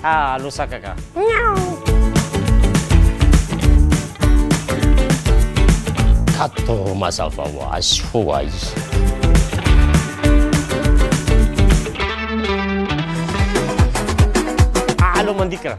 Alô saka ka. Kato mazava ho azy ho ahy. Alô mandikana.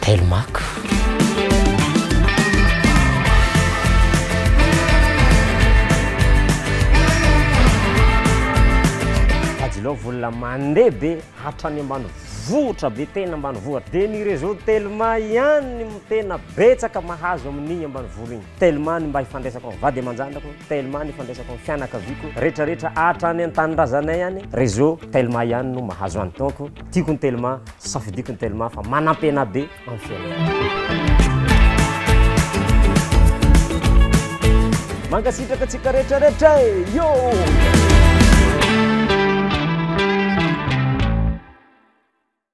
Telmaco. Ajilao vola mandeha be hatrany ambany vohitra be tena ambany vohitra dia ny réseau Telma ihany no tena betsaka mahazo amin'igny ambany vohitra igny. Telma ny mba ifandraisako amin'ny vady aman-janako, Telma ny ifandraisako amin'ny fianakaviako, rehetrarehetra hatrany an-tanindrazanay any, réseau Telma ihany no mahazo any donc tiako ny Telma. Safidiko ny telma fa manampena be amin'ny fiainana. Mankasitraka antsika rehetra rehetra e! Yo!